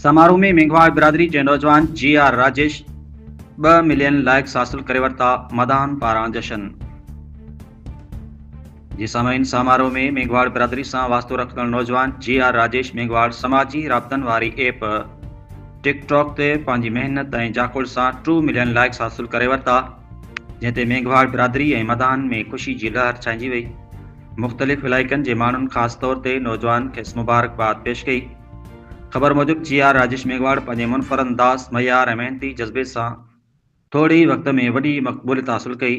سماروهه ۾ مينگهواڙ برادري جي نوجوان جي آر راجيش ٻه ملين لائڪس حاصل ڪري ورتا، مداحن پاران جشن جي سامعين سماروهه ۾ مينگهواڙ برادري سان واسطو رکندڙ نوجوان جي آر راجيش مينگهواڙ سماجي رابطن واري ايپ ٽڪ ٽاڪ تي پنهنجي محنت ۽ جاکوڙ سان ٽو ملين لائڪس حاصل ڪري ورتا جنهن تي مينگهواڙ برادري ۽ مداحن ۾ خوشي جي لهر ڇائنجي وئي. مختلف علائقن جي ماڻهن خاص طور تي نوجوانن کيس مبارڪباد پيش ڪئي. خبر موجب جي آر راجيش ميگهواڙ پنهنجي منفرد انداز، معيار ۽ محنتي جذبي سان ٿوري ئي وقت ۾ وڏي مقبوليت حاصل ڪئي.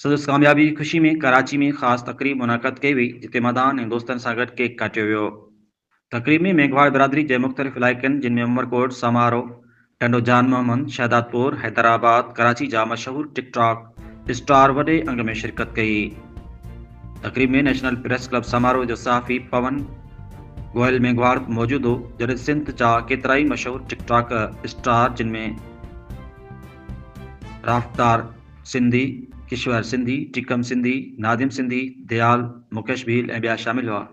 سندس ڪاميابي جي خوشي ۾ ڪراچي ۾ خاص تقريب منعقد ڪئي وئي جتي مداحن ۽ دوستن سان گڏ ڪيڪ ڪاٽيو ويو. تقريب ۾ ميگهواڙ برادري جي مختلف علائقن جن ۾ عمرڪوٽ، سامارو، ٽنڊو جان محمد، شهدادپور، حيدرآباد، ڪراچي جا مشهور ٽڪ ٽاڪ اسٽار وڏي انگ ۾ شرڪت ڪئي. تقريب ۾ نيشنل پريس ڪلب سامارو جو صحافي پون گوئل ميگهواڙ به موجود هو جڏهن سنڌ جا ڪيترائي مشهور ٽڪ ٽاڪ اسٽار جن ۾ رافتار سنڌي، ڪشور سنڌي، ٽيڪم سنڌي، نادم سنڌي، ديال، مڪيش ڀيل ۽ ٻيا شامل هئا.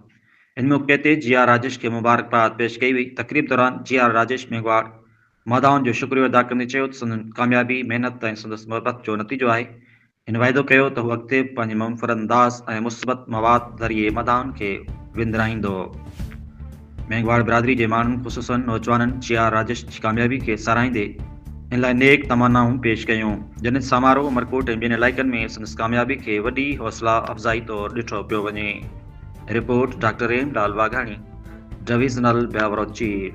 ان موقعي تي جي آر راجيش کي مبارڪباد پيش ڪئي وئي، تقريب دوران جي آر راجيش ميگهواڙ مادائن جو شڪريو ادا ڪندي چيو ته سندن ڪاميابي محنت ۽ سندس محبت جو نتيجو آهي، هن وعدو ڪيو ته هو اڳتي به پنهنجي منفرد انداز ۽ مثبت مواد ذريعي مادائن کي وندرائيندو، ميگهواڙ برادري جي ماڻهن خصوصا نوجوانن جي آر راجيش جي ڪاميابي کي ساراهيندي ان لاء نيڪ تمنائون پيش ڪيون، جنھن سامارو عمرڪوٽ ۽ ٻين علائقن ۾ سندس ڪاميابي کي وڏي حوصلا افزائي طور ڏٺو پيو وڃي. Report, doctor Rahim Lal Waghani, divisional bureau chief.